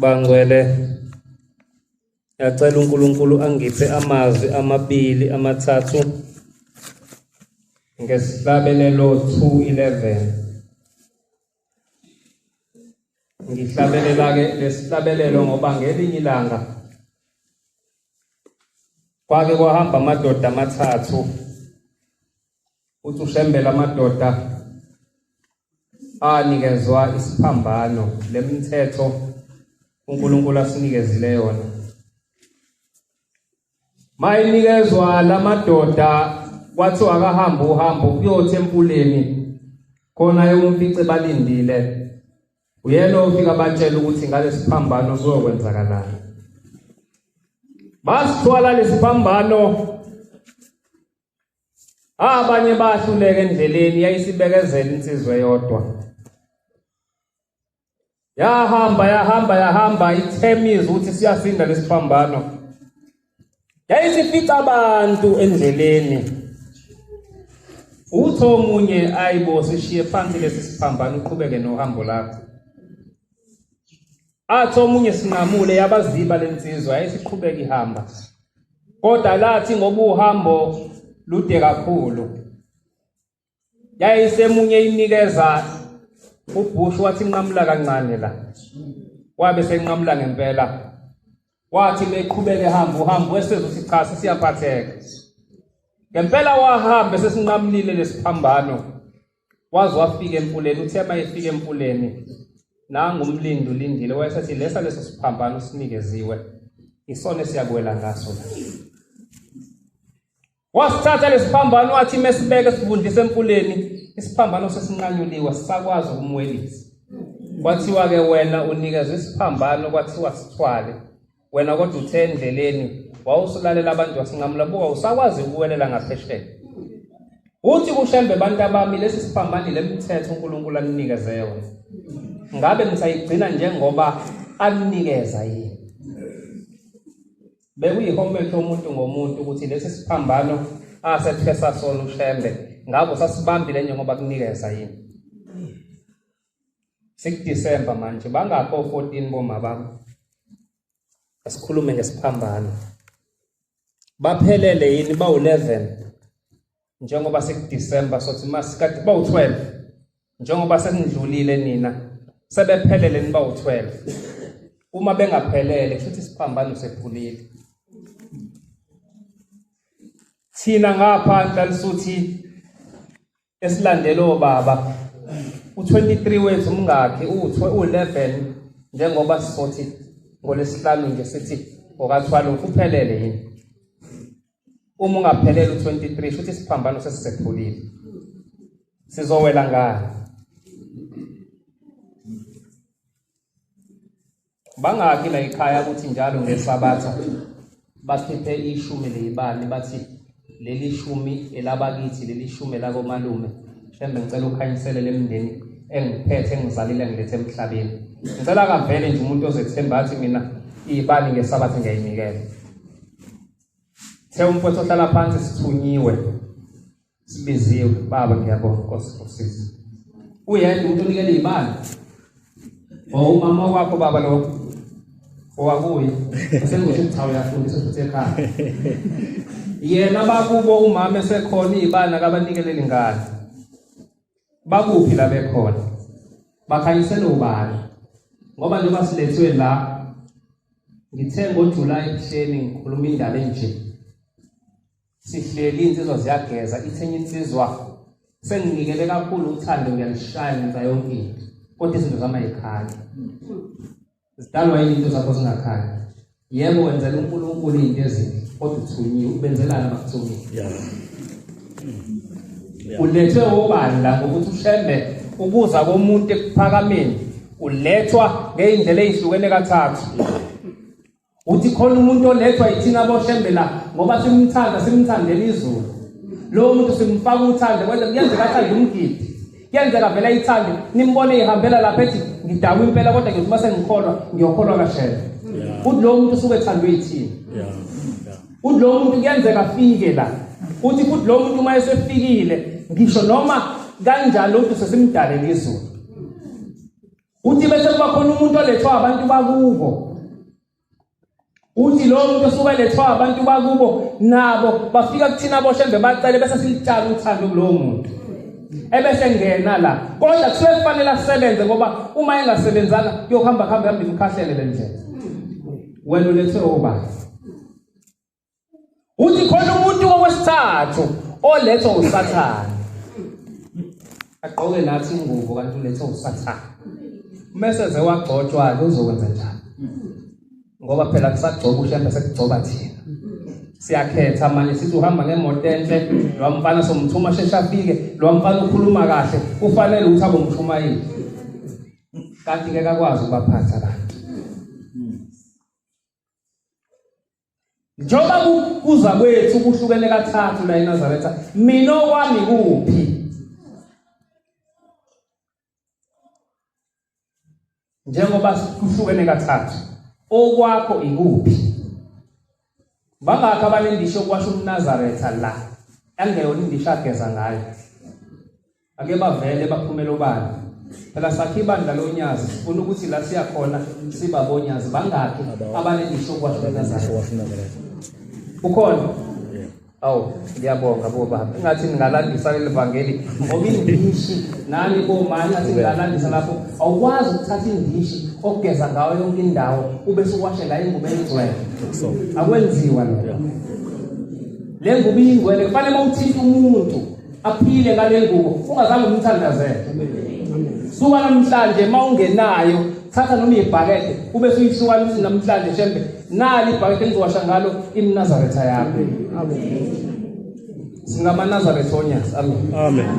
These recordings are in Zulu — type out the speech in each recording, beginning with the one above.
Bangcwele ngiyacela uNkulunkulu angiphe amazwi amabili amathathu ngesihlabelelo 211 ngihlabelela ke lesihlabelelo ngoba ngelinye ilanga kwake kwahamba amadoda amathathu uthi ushembela amadoda anikezwa isiphambano lemithetho uNkulunkulu asinikezile yona mayinikezwa lamadoda wathi akahamba uhambo kuyothi empuleni khona yomfice balindile uyena ofika batshela ukuthi ngalesiphambano kuyokwenzakalani basithwala lesiphambano Abanye bahluleka endleleni yayisibekezela insizwe yodwa. Yahamba yahamba yahamba ithemizi ukuthi siyasinda lesiphambano. Yayisifica abantu endleleni. Utho omunye ayibo sishiye phansi lesi siphambano uqhubeke nohambo lakho. Athi omunye sinqamule yabaziba lensizwa yayisiqhubeka ihamba. Kodwa lathi ngoba uhambo lude kakhulu. Yayisemunye inikeza ubhushu wathi nqamula kancane la. Wabe senqamula ngempela. Wathi meqhubeke hamba uhambo wesezothi cha sesiyaphatheka. Ngempela wahamba sesinqamulile lesiphambano. waze wafika emfuleni uthe uma efika emfuleni nangu umlindi ulindile wayesethi lesa leso siphambano sinikeziwe isona esiyakuwela ngaso wasithatha lesiphambano wathi mesibeke sivundise emfuleni isiphambano sesinqanyuliwe sisakwazi ukumwelisa kwathiwa-ke wena unikeza isiphambano kwathiwa sithwale wena kodwa uthe endleleni wawusulalela abantu wasinqamula buka usakwazi ukuwelela ngaphesheya uthi kushembe abantu abami lesi siphambani le mithetho unkulunkulu aninikeze yona ngabe nisayigcina njengoba aninikeza yini bekuyihomethi yomuntu ngomuntu ukuthi lesi siphambano asethesa sona ushembe ngabo sasibambile njengoba kunikeza yini sikudisemba manje bangakho 14 boma bami asikhulume ngesiphambano baphelele yini bawu 11 njengoba sikudisemba sothi masikade bawu 12 njengoba senidlulile nina sebephelele nibawu 12 uma bengaphelele kusho ukuthi isiphambano sephulile thina ngapha ntalisuthi esilandela obaba u23 wethu umngakhe u11 njengoba sisothi ngolesihlanu nje sithi ngokathwala ukuphelele yini uma ungaphelele u23 futhi isiphambano sesisephulile sizowela ngani bangaki la ikhaya ukuthi njalo ngesabatha bakhiphe ishumi leyibani bathi leli shumi elabakithi leli shumi elakomalume mhlembe ngicela ukhanyisele lemndeni engiphethe engizalile ngilethe emhlabeni ngicela kavele nje umuntu ozethemba athi mina ibani ngesabatha ngiyayinikela the umfowethu ohlala phansi sithunyiwe Sibiziwe baba ngiyabonga Nkosi ngosiza. Uyedwa umuntu onikele imali. Oh umama wakho baba lo. Owakuye. Sengisho ukuthi cha uyafundisa futhi ekhaya. Yena bakubo umama esekhona izibana kabanikeleli ingane. Bakuphi la bekhona? Bakhanyisela ubani? Ngoba njengoba silethwe la ngithe ngoJuly ebuhleni ngikhuluma indaba enje. sihleli insizwa ziyageza ithenye insizwa senginikele kakhulu uthando ngiyalishaya ngenza yonke into kodwa izinto zami ayikhali zidalwa yini into zakho zingakhali yebo wenzela unkulunkulu iy'nto ezinhle kodwa uthunyiwe ubenzelana bakuthungile ulethwe obani la ngokuthi ushembe ukuza komuntu ekuphakameni ulethwa ngey'ndlela ey'hlukene kathathu uthi khona umuntu olethwa yithina boshembe la ngoba simthanda simthandela izulu lowo muntu simfaka uthando kwenza kuyenzeka athande umgidi kuyenzeka vele ayithande nimbone ihambela lapha ethi ngidakwa impela kodwa ngithi uma sengikholwa ngiyokholwa kashela uthi lowo muntu usuke ethandwe yithina uthi lowo muntu kuyenzeka afike la uthi futhi lowo muntu uma esefikile ngisho noma kanjalo umuntu sesimdalele izulu uthi bese kuba khona umuntu olethwa abantu bakubo uthi lo muntu osuke elethwa abantu bakubo nabo bafika kuthina boshembe bacele bese silitshala uthando kulowo muntu ebese ngena la kodwa kusuke kufanele asebenze ngoba uma engasebenzanga kuyohamba kuhamba hamba imkhahlele le ndlela wena ulethwe obani uthi khona umuntu wokwesithathu olethwa usathane agqoke nathi ingubo kanti ulethwa usathane mese sewagcotshwa ke uzokwenza njani ngoba phela kusagcoba ushembe sekugcoba thina siyakhetha manje sithi uhamba ngemoto enhle lo mfana somthuma shesha afike lo mfana ukhuluma kahle kufanele ukuthi abe umshumayeli kanti ke kakwazi ukubaphatha abantu njengoba kuza kwethu kuhlukene kathathu la eNazaretha mina okwami kuphi njengoba kuhlukene kathathu okwakho ikuphi bangakho abanendisho kwasho umNazaretha la angeyona indisho ageza ngayo Ake bavele baphumele obani. Phela sakhe ibandla lonyazi sifuna ukuthi la siya khona siba bonyazi bangaki abanelisho kwahlukana zayo. Ukhona? Awu ngiyabonga bo baba. Ngathi ningalandisa leli vangeli ngoba indishi nani bo mani ngathi ningalandisa lapho awukwazi ukuthatha indishi ogeza ngayo yonke indawo ube suwashe ngayo ingubo engcwele. Akwenziwa lokho. Le ngubo ingcwele kufanele mawuthinta umuntu aphile ngale ngubo ungazange umthandazele suka namhlanje uma ungenayo thatha noma ibhakede ube suyihlukanisa namhlanje shembe nali ibhakede engizowasha ngalo imnazaretha yakho singamanazaretha onyas amen amen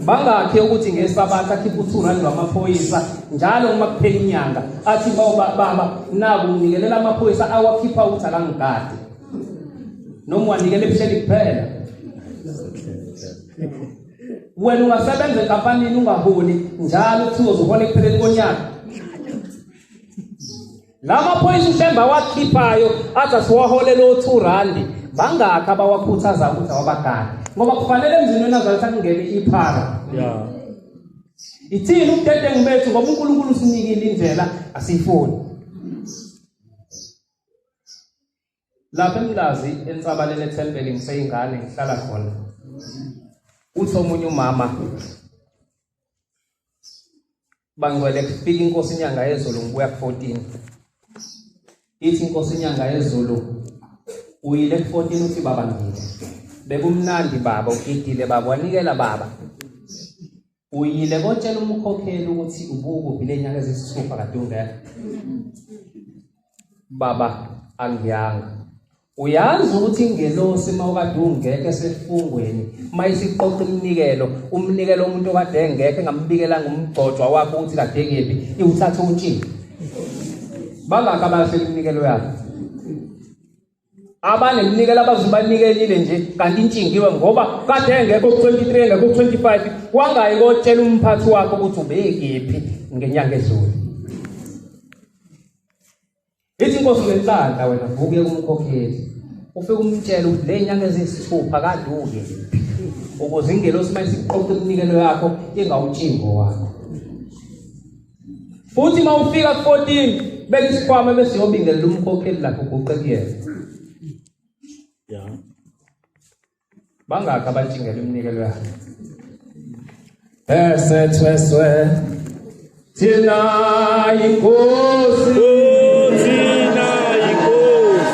bangakhe ukuthi ngesabatha akhiphe u-two rand wamaphoyisa njalo uma kuphela inyanga athi baba naku nginikelela amaphoyisa awakhipha ukuthi akangigadi noma wanikela ebuhleni kuphela wena ungasebenza enkampanini ungaholi njalo kuthiwa uzohola ekupheleni konyaka la maphoyisa ushemba awakhiphayo athi asiwaholele o-two randi bangakhi abawakhuthaza ukuthi awabagani ngoba kufanele emzini wena azalitha kungene iphara ithini ubudedengu bethu ngoba unkulunkulu usinikile indlela asiyifuni lapha emlazi ensabaleni ethempeli ngiseyingane ngihlala khona uthi omunye umama bangcwele kufika inkosi inyanga yezulu ngibuya ku-14 ithi inkosi inyanga yezulu uyile ku-14 uthi baba ngile bekumnandi baba ugidile baba wanikela baba Uyile kotshela umkhokheli ukuthi ubukuphi lenyanga ezisithupha kade ungekho. Baba angiyanga. Uyazi ukuthi ingelosi mawukade ungekho esefungweni mayisiqoqa umnikelo umnikelo umuntu okade engekho engambikela ngomgcojwa wakho ukuthi kade ngephi iwuthatha untshini. Bangaka bahle iminikelo yakho. abanemnikelo abazibanikelile nje kanti intshingiwe ngoba kade engekho ku-23 engekho ku-25 wangayi kotshela umphathi wakho ukuthi ubekephi ngenyanga ezulu ithi inkosi ngenhlanhla wena vuke umkhokheli ufike umtshele ukuthi le nyanga eziyisithupha kade ukephi ukuze ingelosi uma isiqoqa iminikelo yakho ingawutshingo wakho futhi uma ufika ku-14 beka isikhwama bese yobingelela umkhokheli lakho uguqe kuyena ya bangakhi abathingela iminikelo yakhe esethweswe thina inkosi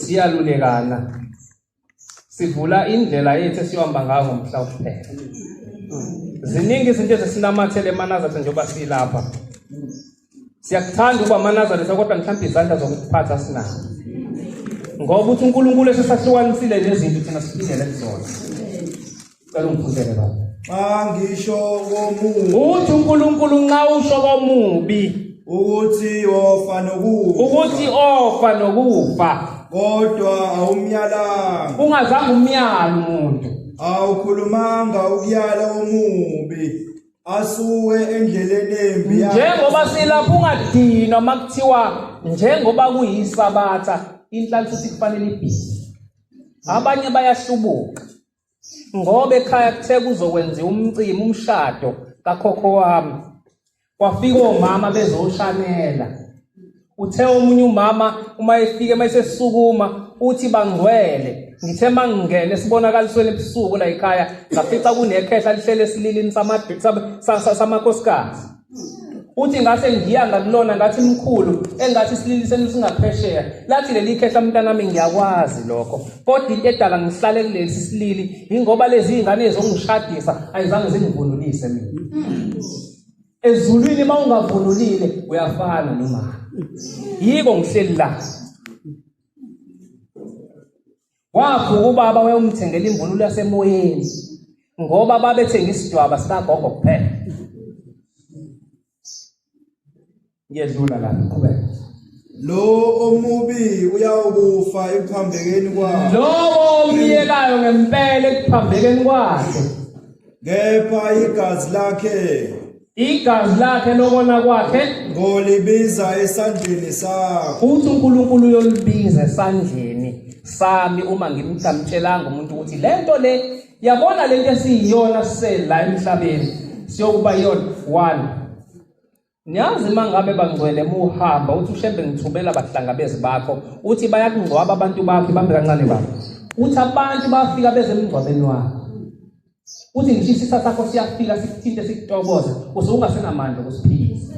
siyalulekana sivula indlela yethu esiyohamba ngayo ngomhla kuphela ziningi izinto ezesinamathele emanazatha njengoba silapha siyakuthanda ukuba amanazareth kodwa mhlawumbe izandla zokuphatha sinazo ngoba uthi unkulunkulu esesahlukanisile nezinto thina siphindele kuzona Cela ungiphusele baba. Xa ngisho komubi Uthi uNkulunkulu nxa usho komubi ukuthi ofa nokufa ukuthi ofa nokufa kodwa awumyalanga ungazange umyala umuntu awukhulumanga ukuyala omubi asuke endleleni embi yakhe. njengoba silapha ungadinwa uma kuthiwa njengoba kuyisabatha inhlanhla futhi kufanele ibhizi abanye bayahlubuka ngoba ekhaya kuthe kuzokwenziwa umcimbi umshado kakhokho wami kwafika omama bezoshanela uthe omunye umama uma efike uma esesukuma uthi bangcwele ngithe uma ngingene esibonakalisweni ebusuku la ekhaya ngafica kunekhehla lihlele esililini samakhosikazi uthi ngase ngiya ngakulona ngathi mkhulu engathi silili senu singaphesheya lathi leli khehla mntanami ngiyakwazi lokho kodwa into edala ngihlale kulesi silili ingoba lezi ingane zongishadisa ayizange zingivunulise mina ezulwini uma ungavunulile uyafana nomama yiko ngihleli la Kwakho ubaba wayomthengela imvunulo yasemoyeni ngoba babethenga isidwaba sikagogo kuphela. Ngiyedlula la qhubeka. Lo omubi uyawukufa ekuphambekeni kwakhe. Lo omyekayo ngempela ekuphambekeni kwakhe. Kepha igazi lakhe igazi lakhe lokona kwakhe ngolibiza esandleni sakho futhi uNkulunkulu uyolibiza esandleni sami uma ngimthamtshelanga umuntu ukuthi lento le yabona lento esiyiyona sisela emhlabeni siyokuba yona one Niyazi mangabe bangcwele muhamba uthi ushembe ngithubela abahlangabezi bakho uthi bayakungcwaba abantu bakho bambe kancane bakho uthi abantu bafika bezemngcwabeni wakho Uthi ngisho isisa sakho siyafika sikuthinte sikutokoza usungasenamandla okusiphilisa.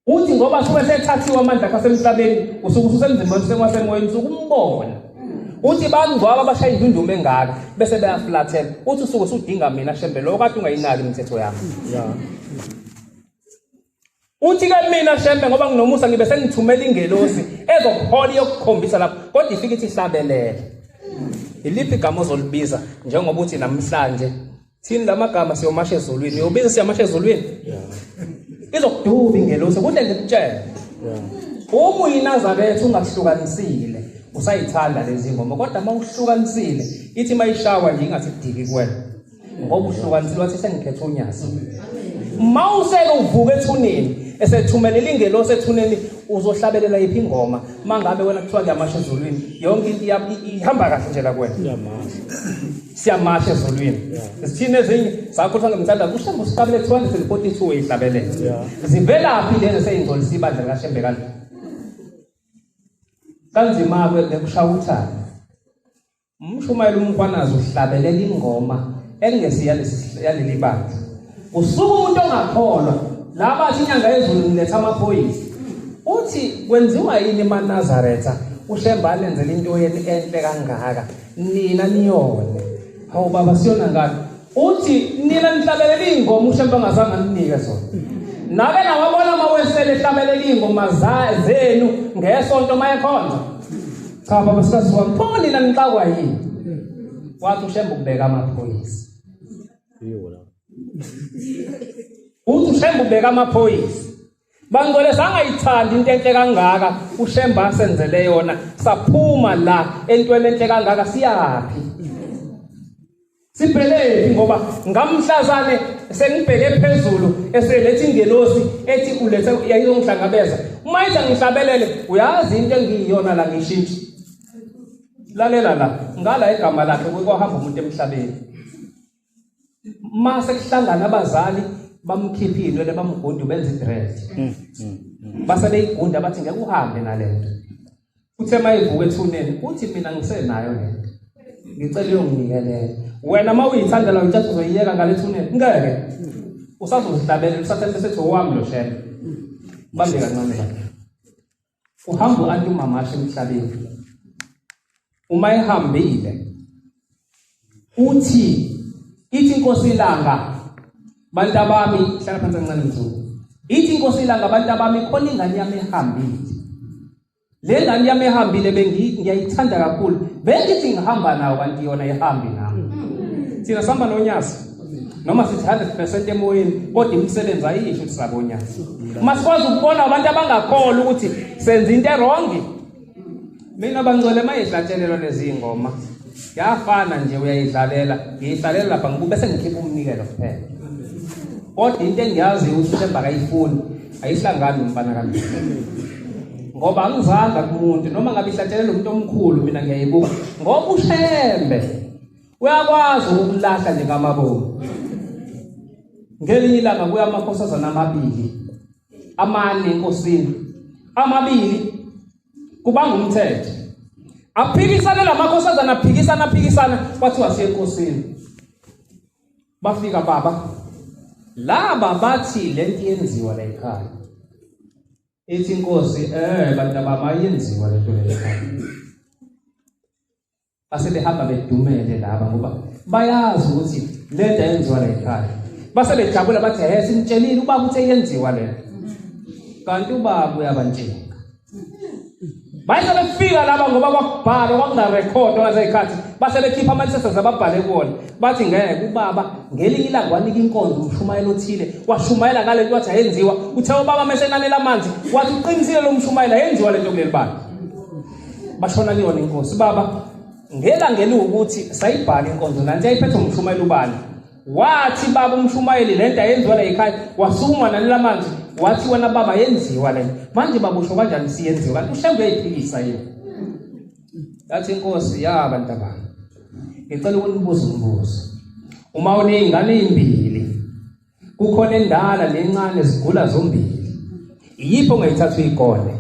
Uthi ngoba suke sethathiwe amandla akhe asemhlabeni usuke usemzimbeni sekwasemoyeni sukumbona. Uthi bangcwaba abashaya indunduma engaka bese beyaflathela. Uthi usuke usudinga mina shembe lokho kade ungayinaki imithetho yami. Yeah. Uthi ke mina shembe ngoba nginomusa ngibe sengithumela ingelosi ezokuhola yokukhombisa lapho kodwa ifike ithi hlabelele. Iliphi igama ozolibiza njengoba uthi namhlanje thini lamagama siyomasha ezulwini uyobiza siyamasha ezulwini izokuduba ingelosi kuhle nje kutshela uma uyinazabethu ungahlukanisile usayithanda lezi ngoma kodwa uma uhlukanisile ithi mayishawa nje ingathi kudiki kuwena ngobuhlobo kanti lwathi sengikhetha uNyazi uma useke uvuka ethuneni esethumelela ingelosi ethuneni uzohlabelela iphi ingoma mangabe wena kuthiwa kuyamasha ezulwini yonke into ihamba kahle nje la kuwena siyamasha ezulwini zithini ezinye zakho kuthiwa ngemthanda kushembe usiqabele 242 uyihlabelela zivelaphi lezi eseyingcolisa ibandla likashembe kanje kanzima-ke bekushaya uthando Umshumayeli uMkhwanazi uhlabelela ingoma engesi yaleli bandla. Usuku umuntu ongakholwa laba athi inyanga yezulu ngiletha amaphoyisa. Uthi kwenziwa yini eManazaretha uShemba alenzele into yeni enhle kangaka nina niyone. Hawu baba siyona ngani? Uthi nina nihlabelela ingoma ushe mpangazange aninike zona. Nake nawabona uma wesele ehlabelela ingoma zenu ngesonto mayekhonza. Cha baba sikazi wami pho nina nixakwa yini? Wathi ushembe ukubeka amaphoyisa. Yona. Uthi ushembe ubeka amaphoyisa. Bangcwele sangayithandi into enhle kangaka uShemba senzele yona saphuma la entweni enhle kangaka siyaphi Sibhelepi ngoba ngamhlazane sengibheke phezulu eselethi ingelosi ethi ulethe yayizongihlangabeza uma ithi ngihlabelele uyazi into engiyiyona la ngishintshe lalela la ngala igama lakhe kwehamba umuntu emhlabeni uma sekuhlangana abazali bamkhipha iy'nwele bamgudu benza idread mm, mm, mm. base beyigunda bathi ngeke uhambe nale nto uthe uma evuka ethuneni uthi mina ngisenayo le nto ngicela uyonginikelele wena uma uyithandela uyithatha uzoyiyeka ngale thuneni ngeke usazozihlabelela usathembe sethi owami lo shebe bambe kancane uhamba u-anti umamasha emhlabeni uma ehambile uthi ithi inkosi ilanga bantu abami hlala phansi kancane mzulu ithi inkosi ilanga abantu abami khona ingane yami ehambile le ngane yami ehambile bengiyayithanda kakhulu bengithi ngihamba nayo kanti yona ihambi nami thina sihamba nonyasi noma sithi 100% emoyeni kodwa imisebenzi ayisho ukuthi sabonyana uma sikwazi ukubona abantu abangakholwa ukuthi senza into erongi mina bangcwele mayidlatshelelwa lezi ngoma yafana nje uyayidlalela ngiyidlalela lapha ngibube sengikhipha umnikelo kuphela kodwa into engiyaziyo ukuthi uthemba kayifuni ayihlangani nomfana kami ngoba angizanga kumuntu noma ngabe ihlatshelela umuntu omkhulu mina ngiyayibuka ngoba ushembe uyakwazi ukulahla nje kamabomu ngelinye ilanga kuya amakhosazana amabili amane enkosini amabili kubanga umthetho aphikisane lamakhosazana aphikisana aphikisana kwathiwa siye enkosini bafika baba laba bathi lento yenziwa la ekhaya ethi inkosi eh bantu abayenziwa lento la ekhaya Base behamba bedumele laba ngoba bayazi ukuthi lento yenziwa la ekhaya. Base bejabula bathi he simtshelile ubaba uthe yenziwa lento. Kanti ubaba uyabantshinga. Bayise befika laba ngoba kwakubhalwa kwakungarekhodwa ngazekhathi base bekhipha amathethe zababhale kuwona bathi ngeke ubaba ngelinye ilanga wanika inkonzo umshumayelo othile washumayela ngale nto wathi ayenziwa uthe ubaba mesenanela amanzi wathi uqinisile lo mshumayela yenziwa le nto kuleli bani bashona kuyona inkosi baba ngelanga eliwukuthi sayibhala inkonzo nanti yayiphethe umshumayeli ubani wathi baba umshumayeli le nto ayenziwa la yikhaya wasukuma nanila manzi wathi wena baba yenziwa le manje babusho kanjani siyenziwa kanti ushembe uyayiphikisa yini yathi inkosi ya bantu abantu ngicela ukunibuza umbuzo uma uney'ngane ey'mbili kukhona endala nencane zigula zombili iyiphi ongayithatha uyikole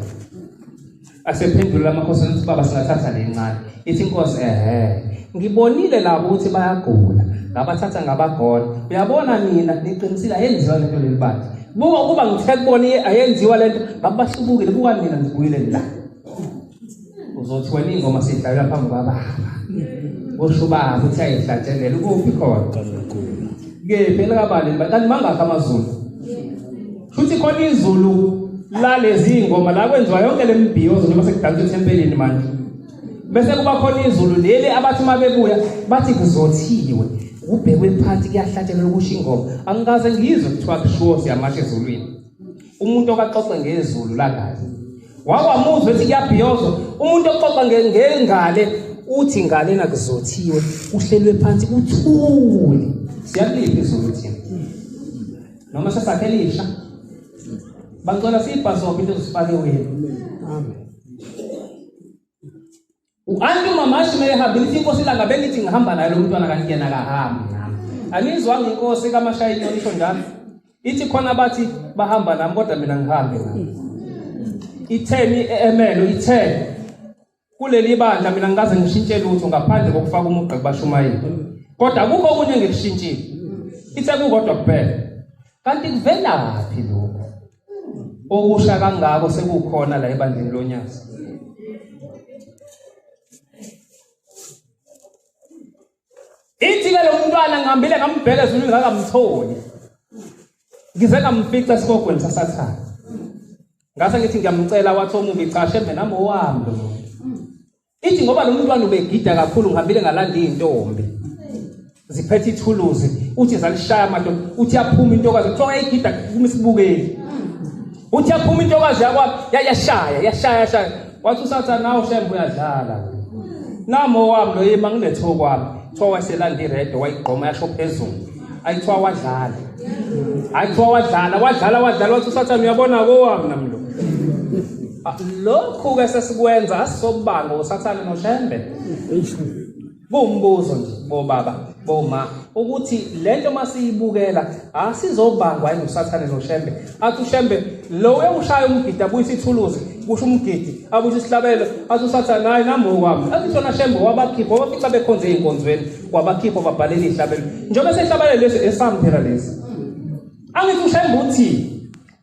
asephendula amakhosi ukuthi baba singathatha lencane ithi inkosi ehe ngibonile labo ukuthi bayagula ngabathatha ngabagona uyabona mina niqinisile ayenziwa lento leli bandla buka ukuba ngithe kubona ayenziwa lento ngabahlubukile buka mina ngibuyile la uzothiwa ingoma sidlalela phambi kwababa usho ubaba ukuthi ayihlatshelela ukuphi khona kephi elikabaleni kanti mangakho amazulu futhi khona izulu lalezi ngoma la kwenziwa yonke le mbhiyozo njengoba sekudansa ethempelini manje bese kuba khona izulu leli abathi uma bebuya bathi kuzothiwe ubhekwe phansi kuyahlatshelelwa ukusho ingoma angikaze ngizwe kuthiwa kushiwo siyamasha ezulwini umuntu okaxoxe ngezulu langazi wawamuzwa ethi kuyabhiyozo umuntu oxoxa ngengale uthi ngale nakuzothiwe uhlelwe phansi kuthule siyakuliphi izulu thina noma sesakhe lisha bangicela siyibhasobhe into zifake wena amen U-anti umamashi uma ehambile ithi inkosi ilanga bengithi ngihamba naye lo mntwana kanti yena akahambi nami anizwanga inkosi kamashayini onisho njalo ithi khona bathi bahamba nami kodwa mina ngihambe nami itheni emelo itheni kuleli bandla mina ngikaze ngishintshe lutho ngaphandle kokufaka umugqa kubashumayeli kodwa akukho okunye engikushintshile ithe kukodwa kuphela kanti kuvelaphi lokho okusha kangako sekukhona la ebandleni lonyazi ithi ke lo mntwana ngihambile ngambheka ezulu ngakamtholi ngize ngamfica esigogweni sasathana ngase ngithi ngiyamcela wathi omubi cha shembe nami owami lo ithi ngoba lo mntwana ubegida kakhulu ngihambile ngalanda iy'ntombi ziphethe ithuluzi uthi zalishaya amadoda uthi yaphuma intokazi kuthiwa wayeyigida kuma isibukeli uthi yaphuma intokazi yakwami yashaya yashaya yashaya wathi usathane nawo shembe uyadlala namo wami lo yima nginethokwami kuthiwa waselanda iredo wayigqoma yasho phezulu ayithiwa wadlala ayithiwa wadlala wadlala wadlala wathi usathane uyabona kowami nami lo ah, lokhu-ke sesikwenza asisobanga usathane noshembe kuwumbuzo nje bobaba boma ukuthi le nto uma siyibukela asizobangwa yini usathane noshembe athi ushembe lo ewushaya umgidi abuyisa ithuluzi kusho umgidi abuyisa isihlabelo athi usathane hayi nami okwami athi shona shembe wabakhipha wabafica bekhonze ey'nkonzweni wabakhipha wababhalela ihlabelo njengoba sehlabalele lesi esami phela lesi angithi ushembe uthi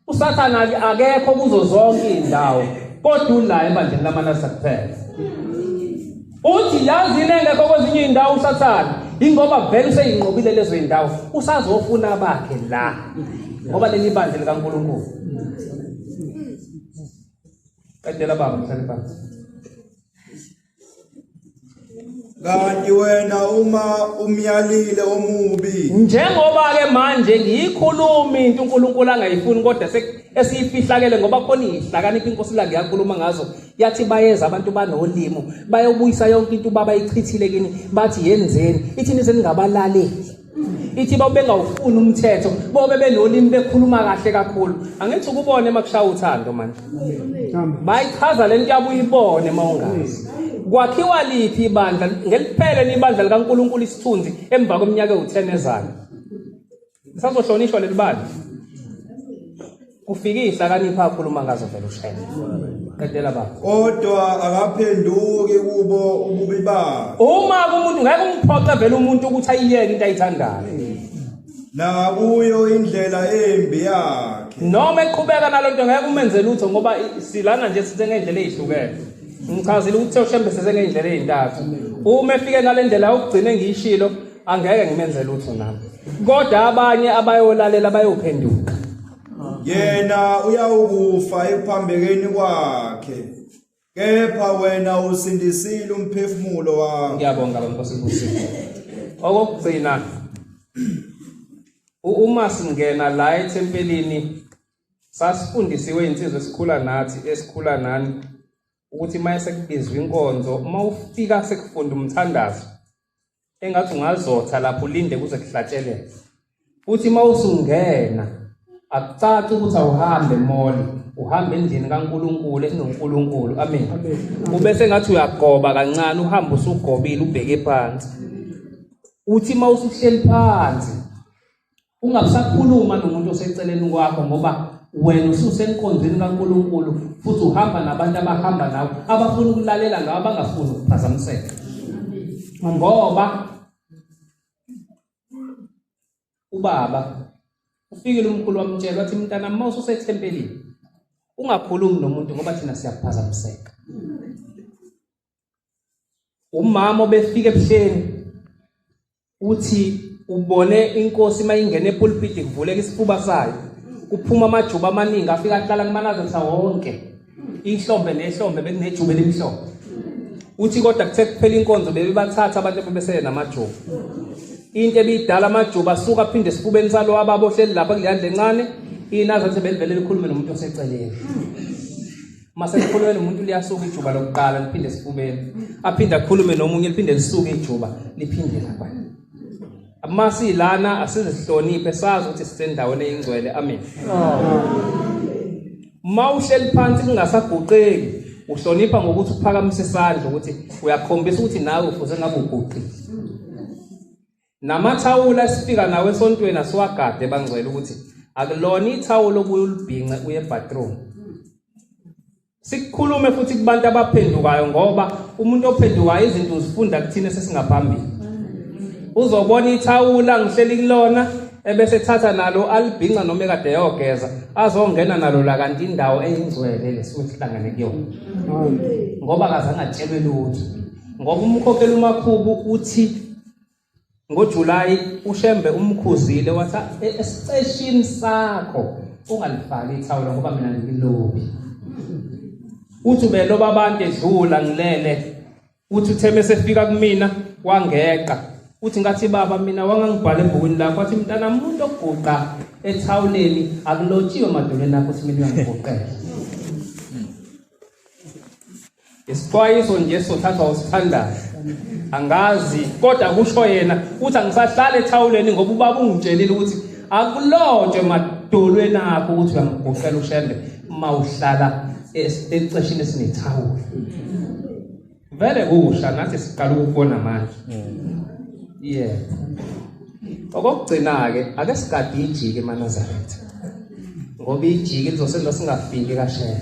usathane akekho kuzo zonke iy'ndawo kodwa ula ebandleni lamanasa kuphela uthi yazini engekho kwezinye iy'ndawo usathane ingoba vele useyinqobile lezo y'ndawo usazofuna bakhe la ngoba leli bandla likankulunkulu qedela baba mhlale phansi kanti wena uma umyalile omubi njengoba ke manje ngiyikhuluma into uNkulunkulu angayifuni kodwa esiyifihlakele ngoba khona ihlakanipha inkosi la ngiyakhuluma ngazo yathi bayeza abantu banolimo bayobuyisa yonke into baba ichithile kini bathi yenzeni ithini seningabalaleli ithi babengawufuni umthetho bobe benolimi bekhuluma kahle kakhulu angithi ukubone uma kushaya uthando manje bayichaza lento yabo uyibone uma ungazi kwakhiwa liphi ibandla ngeliphele libandla likaNkuluNkulu isithunzi emva kweminyaka ewu10 ezayo sazohlonishwa lelibandla kufikisa akanipha akhuluma ngazo vele ushayela qedela baba kodwa akaphenduki kubo ububi bakhe uma umuntu ngeke umphoxe vele umuntu ukuthi ayiyeke into ayithandayo nakuyo indlela embi yakhe noma eqhubeka nalonto ngeke umenze lutho ngoba silana nje sithe ngendlela ezihlukene ngichazile ukuthi ushembe sithe ngendlela ezintathu uma efike ngalendlela ukugcina engiyishilo angeke ngimenze lutho nami kodwa abanye abayolalela bayophenduka yena uyawukufa ekuphambekeni kwakhe kepha wena usindisile umphefumulo wakho ngiyabonga bankosi kusipho okokugcina uma singena la ethempelini sasifundisiwe insizwa esikhula nathi esikhula nani ukuthi uma esekubizwa inkonzo uma ufika sekufunda umthandazo engathi ungazotha lapho ulinde kuze kuhlatsheleke futhi uma usungena akucaci ukuthi awuhambe moli uhambe endlini kaNkuluNkulu esinoNkuluNkulu amen ube sengathi uyagoba kancane uhamba usugobile ubheke phansi uthi uma usuhleli phansi Ungasakhuluma nomuntu oseceleni kwakho ngoba wena ususenkonzweni kaNkulunkulu futhi uhamba nabantu abahamba nawe abafuna ukulalela ngawe abangafuni ukuphazamiseka. Ngoba ubaba ufikile umkhulu wamtshela wathi mntana uma ususethempelini ungakhulumi nomuntu ngoba thina siyakuphazamiseka. umama obefika ebuhleni uthi ubone inkosi mayingena epulpit kuvuleka isifuba sayo kuphuma amajuba amaningi afika ahlala kumanazo mhlawonke inhlombe nehlombe bekunejuba elimhlophe uthi kodwa kuthe kuphela inkonzo bebebathatha abantu bebesele namajuba into ebidala amajuba asuka aphinde esifubeni salo ababohleli lapha kuleyandle encane inazathi belivele likhulume nomuntu oseceleni uma sekukhulume nomuntu liyasuka ijuba lokuqala liphinde esifubeni aphinde akhulume nomunye liphinde lisuke ijuba liphinde lapha uma silana asizihloniphe sazi ukuthi sisendaweni eyingcwele amen uma uhleli phansi kungasaguqeki uhlonipha ngokuthi uphakamise isandla ukuthi uyakhombisa ukuthi nawe ufuze ngabe uguqile Namathawula esifika nawo esontweni asiwagade bangcwele ukuthi akulona ithawula obuye ulibhince uye ebathroom. Sikukhulume futhi kubantu abaphendukayo ngoba umuntu ophendukayo izinto uzifunda kuthina sesingaphambili. Uzobona ithawula ngihleli kulona ebese thatha nalo alibhinca noma ekade yogeza azongena nalo la kanti indawo eyingcwele lesuke sihlangene kuyona. Ngoba akazangatshelwe lutho. Ngoba umkhokheli umakhubu uthi NgoJulayi uShembe umkhuzile wathi "E- esiceshini sakho ungalifaki ithawula ngoba mina ngilobi. Uthi ubeloba abantu edlula ngilele. Uthi uthe mesefika kumina wangeqa. Uthi ngathi baba mina wangangibhala ebhukwini lakho wathi mntana umuntu oguqa ethawuleni akulotshiwe emadolweni akho ukuthi mina uyangiguqela. Isixwayiso nje sothathwa usithandayo. Angazi kodwa kusho yena uthi angisahlale ethawuleni ngoba ubaba ungitshelile ukuthi akulotshwe madolweni akho ukuthi uyangigoqela ushembe uma uhlala esiceshini esinethawulo. Vele kusha nathi siqala ukubona manje. Yeah. Okokugcina ke ake sigade ijike eManazaretha. Ngoba ijike lizosenza singafiki kashela.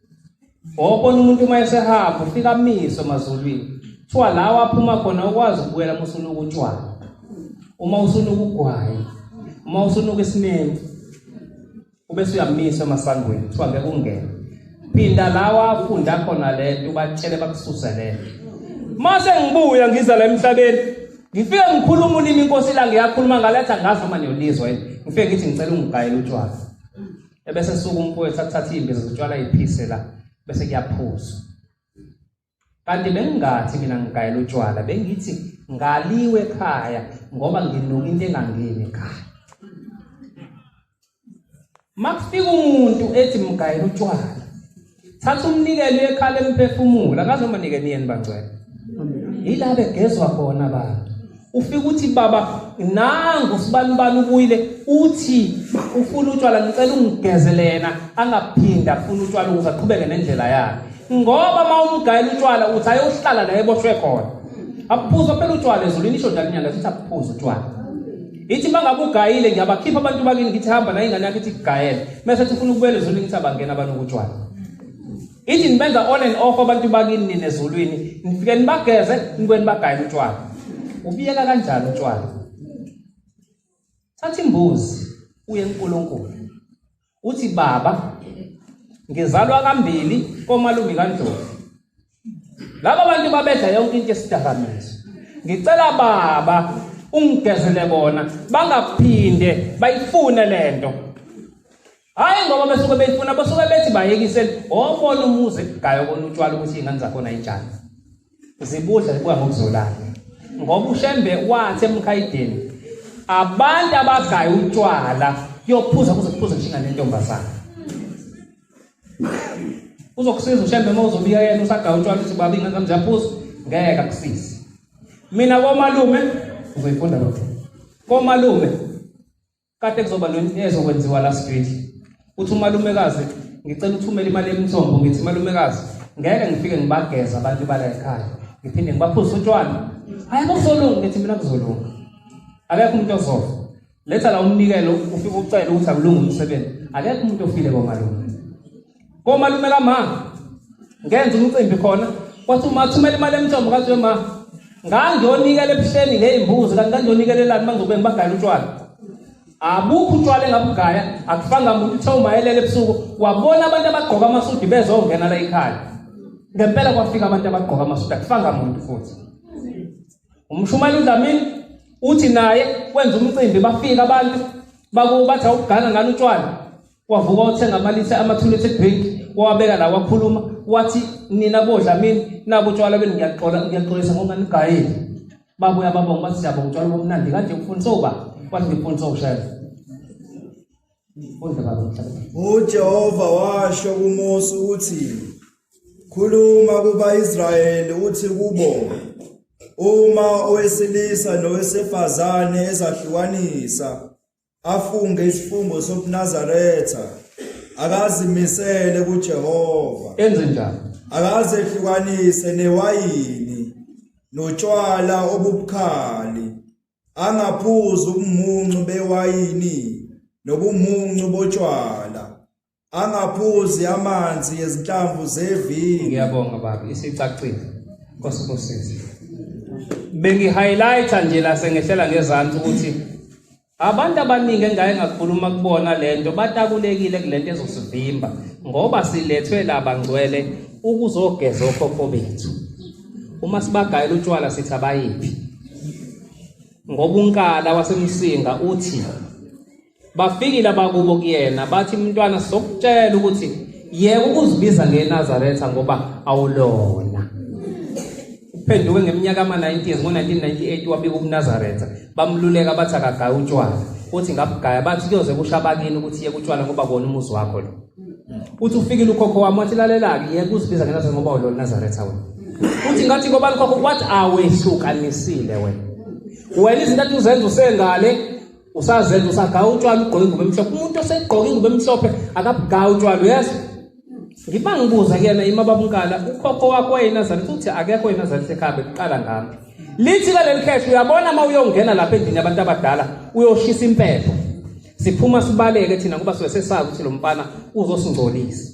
Wawubona umuntu uma esehamba ufika amiswe emazulwini. Kuthiwa lawa aphuma khona ukwazi ukubuyela uma usunuka utshwala. Uma usunuka ugwayi. Uma usunuka isimeni. Ube suyamisa emasangweni kuthiwa ngeke ungene. Phinda lawa afunda khona le nto ubatshele bakususe le. Mase ngibuya ngiza la emhlabeni ngifike ngikhuluma ulimi inkosi la ngiyakhuluma ngaletha ngazi noma niyolizwa yini. Ngifike ngithi ngicela ungigayele utshwala. ebese suka umfowethu athatha imbiza zotshwala iphise la bese kuyaphuza kanti bengingathi mina ngigayela utshwala bengithi ngaliwe ekhaya ngoba nginuka into engangeni ekhaya makufika umuntu ethi mgayela utshwala thatha umnikelo uyekhala emphefumulo akaze umanike niyeni bangcwele yila begezwa khona abantu ufika uthi baba nangu sibanibani ubuyile uthi ufuna utshwala ngicela ungigezelena angaphinde afuna utshwala ukuze aqhubeke nendlela yakhe ngoba uma umgayela utshwala uthi ayohlala la eboshwe khona aphuza phela utshwala ezulwini isho njalo inyanga sithi aphuza utshwala Ngithi mangabe ugayile ngiyabakhipha abantu bakini ngithi hamba nayo ingane yakhe ithi kugayele. Mase ethi ufuna ukubuyela ezulwini ngithi abangena abantu kutshwala. Ithi nibenza on and off abantu bakini nina ezulwini. Nifike nibageze nibuye nibagayele utshwala. Ubiyeka kanjani utshwala? Thatha imbuzi uye eNkulunkulu. uthi baba ngizalwa kambili komalume kaNdlovu laba bantu babedla yonke into esidakamizwa ngicela baba ungigezele bona bangaphinde bayifune lento hayi ngoba besuke beyifuna basuke bethi bayekisele obona umuzi gayo konutshwala ukuthi ingane zakhona injani zibudla zibuya ngokuzolana ngoba ushembe wathi emkhayideni abantu abagaye utshwala yophuza kuze kuphuze kushinga nentombazana uzokusiza ushembe uma uzobiya yena usagaya utshwala uthi baba ingane zami ziyaphuza ngeke akusize mina komalume uzoyifunda lokho komalume Kade kuzoba lento ezokwenziwa la street. Uthi umalumekazi ngicela uthumela imali emthombo ngithi malumekazi ngeke ngifike ngibageza abantu bala ekhaya. Ngiphinde ngibaphuza utshwala. Hayi kusolunga ngithi mina kuzolunga. Akekho umuntu ozofa. Letha la umnikelo ufike ucela ukuthi akulunge umsebenzi. Akekho umuntu ofile komalume. komalume kama ngenza umcimbi khona wathi uma thumela imali emthombo kathi we ma ngangiyonikela ebuhleni ngey'mbuzi kanti ngangiyonikeleelani bangizokube ngibagayela utshwala abukho utshwala engabugaya akufanga muntu uthe umayelele ebusuku wabona abantu abagqoka amasudi bezongena la ekhaya ngempela kwafika abantu abagqoka amasudi akufanga muntu futhi umshumayeli udlamini uthi naye wenza umcimbi bafika abantu bakubathi awugana ngani utshwala wavuka wathenga amalithe ama-two litre drink wawabeka la wakhuluma wathi nina bodla mina nabu utshwala benu ngiyaxola ngiyaxolisa ngoba nigayile babuya babonga bathi siyabonga utshwala bomnandi kanje ufundisa uba wathi ngifundisa ushela uJehova washo kuMose ukuthi khuluma kuba-Israyeli uthi kubo uma owesilisa nowesifazane ezahlukanisa afunge isifungo sobunazaretha akazimisele kuJehova enze njani akaze ehlukanise newayini notshwala obubukhali angaphuzi ubumuncu bewayini nobumuncu botshwala angaphuzi amanzi ezinhlamvu zevini ngiyabonga baba isicacile Nkosi kusize bengi highlighter nje la sengehlela ngezantsi ukuthi abantu abaningi engaye ngakhuluma kubona lento batakulekile kulento ezosivimba ngoba silethwe laba ngcwele ukuzogeza okhokho bethu uma sibagayela utshwala sithi abayiphi ngoba unkala wasemsinga uthi Bafikile abakubo kuyena bathi mntwana sokutshela ukuthi yeka ukuzibiza ngeNazaretha ngoba awulona. Uphenduke ngeminyaka ama-90s ngo-1998 wabika ubuNazaretha bamluleka bathi akagaye utshwala uthi ngabugaya bathi kuyoze kusho abakini ukuthi yeka utshwala ngoba kona umuzi wakho lo. Uthi ufikile ukhokho wami wathi lalela-ke yeka uzibiza ngeNazaretha ngoba awulona Nazaretha wena. Uthi ngathi ngoba likhokho wathi awehlukanisile wena. Wena izinto athi uzenza usengale usazenza usagawa utshwala ugqoke ingubo emhlophe umuntu osegqoke ingubo emhlophe akabugawa utshwala uyazi ngiba ngibuza kuyena ima babunkala ukhokho wakho wayenazali futhi akekho yenazali sekhambe kuqala ngami lithi kaleli khehla uyabona uma uyongena lapha endlini yabantu abadala uyoshisa impepho siphuma sibaleke thina ngoba siwe sesazi ukuthi lo mfana uzosingcolisa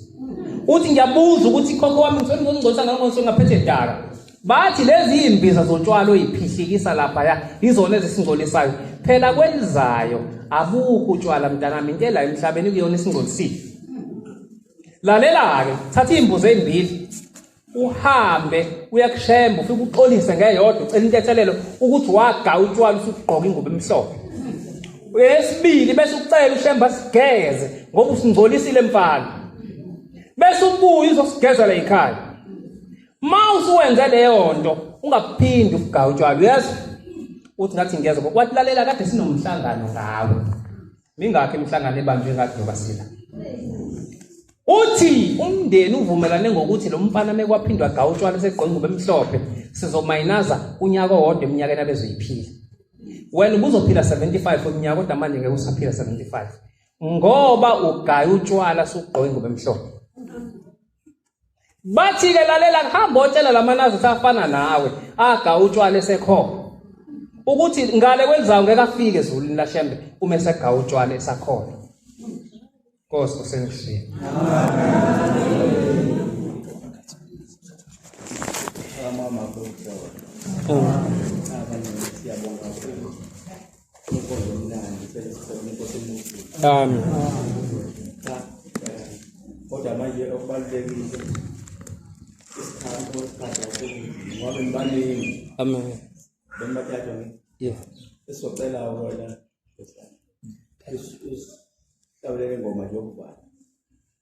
uthi ngiyabuza ukuthi khokho wami ngizongcolisa ngangonsongaphethe daka Bathi lezi imbiza zotshwala oyiphihlikisa lapha ya izona ezisingcolisayo. Phela kwelizayo abukho utshwala mntanami into la emhlabeni kuyona isingcolisile. Lalela-ke thatha iy'mbuzi ey'mbili uhambe uyakushemba ufike uxolise ngeyodwa ucela intethelelo ukuthi waga utshwala usugqoka ingubo emhlophe uyesibili bese ucela ushemba sigeze ngoba usingcolisile mfana bese ubuye uzosigezela yikhaya Uma usuwenze leyo nto ungaphindi ufuga utshwala uyazi uthi ngathi ngiyeza wathi lalela kade sinomhlangano ngawe mingakho imihlangano ebanjwe ngathi nobasila uthi umndeni uvumelane ngokuthi lo mfana mekwaphindwa ga utshwala segqoka ingubo emhlophe sizomayinaza unyaka owodwa eminyakeni abezoyiphila wena ubuzophila 75 umnyaka kodwa manje ngeke usaphila 75 ngoba ugaya utshwala sugqoka ingubo emhlophe Bathi-ke lalela ngihamba otshela lamanazi ukuthi afana nawe aga utshwala esekhona ukuthi ngale kwenzawo ngeke afike ezulwini lashembe uma esegawa utshwala esakhona Nkosi usengishiye Amen. Amen. Siyabonga kakhulu. Amen. Kodwa manje okubalulekile isikhathi osikhathi ngoba ngibaningi. Amen. Bengibathatha ngi. Yeah. Esocela wena. Is is tabeleke ngoma njengoba.